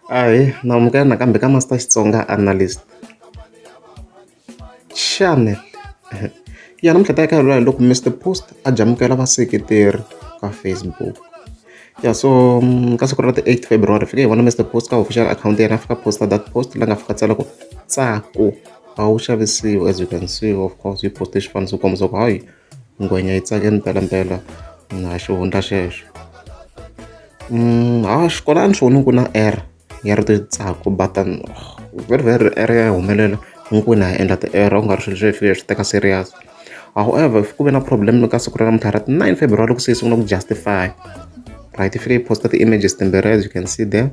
Ahee na amukela nakambe ka Master Xitsonga Analyst. Xana ya namuntlha hi ta ya ka ya lula hi loko Mister Post a jamukela vaseketeri ka Facebook. Ya so ka siku ra ti eight February hi fike hi vona Mister Post ka official akhawunti ya yena a fika a post-a that post la nga fika a tsala ku Tsako a wu xavisiwi as you can see of course yi post-e xifaniso ku kombisa ku hayi. ngwenya yi tsake mpelampela na ha xi hundza xexo ha xikolani swo ni ku na R ya ri titsako but very very R ya humelela hinkwenu ha endla ti-error ku nga ri swilo swi fika hi swi teka serious however ku ve na problem ka siku ra namuntlha ra ti nine February loko se hi sungula ku justify right yi fike yi post-a ti-images timbirhi as you can see there.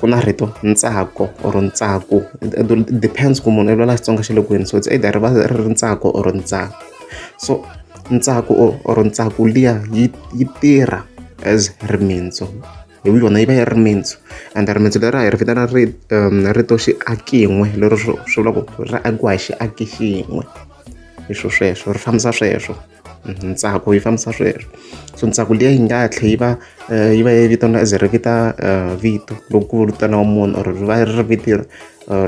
ku na rito ntsako or ntsako depends ku munhu i lwela xitsonga xa le kwini so it's either va ri ri ntsako or ntsako so ntsako or ntsako liya yi yi tirha as rimitsu hi yona yi va yi ri mintsu and rimitsu leri a hi ri vitana ri um, rito xiakin'we lero swi vula ku ri akiwa hi xiaki xin'we hi swo sweswo ri fambisa sweswo ntsako yi fambisa sweswo so ntsako liya yi nga tlhe yi va eh, yi va yi vitaniwa as ri vita eh, vito loko ku vitaniwa munhu or ri va ri viti eh,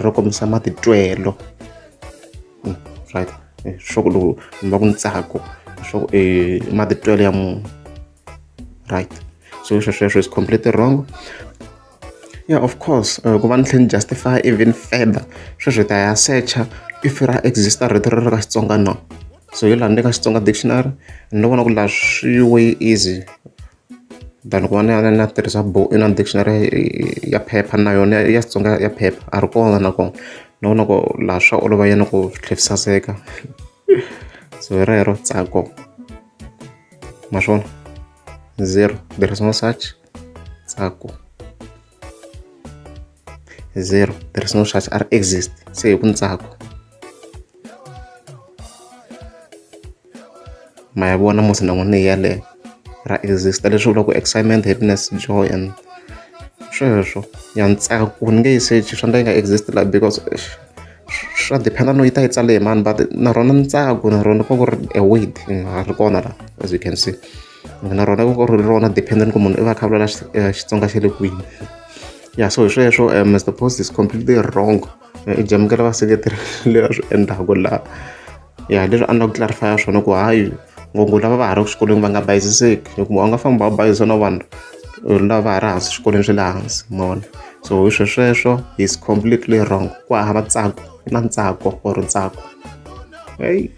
ro kombisa matitwelo hmm, right swa ku loko mi va ku ntsako swa ku i matitwelo ya munhu right so swesweswo is completely wrong ya of course ku va ni tlhela ni justify even further sweswi hi ta ya secha if ra exista rito ri ri ka Xitsonga no so hi laha ni le ka Xitsonga dictionary ni lo vona ku laha swi way easy than ku va na na tirhisa bo na dictionary ya phepha na yona ya Xitsonga ya phepha a ri kona nakona ni vona ku laha swa olova yena ku swi tlhela swi saseka so hi rero tsako ma swona zero there is no such tsako zero there is no such are exist se hi ku ntsako ma ya vona musi na n'wi ni yaleyo ra exista leswi vulaka ku excitement happiness joy and sweswo ya ntsako ni nge yi search swa ndla yi nga exist la because swa dependa no yi ta yi tsale hi mani but na rona ntsako na rona ko ku ri a word ri kona la as you can see na rona ku ri rona dependent ku munhu i va kha vulela Xitsonga xa le kwini ya so hi sweswo um Mr Post is completely wrong i jamukela vaseketeri leyi a swi endlaku laha ya leswi a ni la ku clarifya swona ku hayi ngopfu lava va ha ri ku xikolweni va nga bayiziseki hikuva u nga famba va bayizisa na vanhu lava ha ri hansi swikolweni swa le hansi mona so hi swe sweswo is completely wrong ku hava tsako na ntsako or ntsako heyi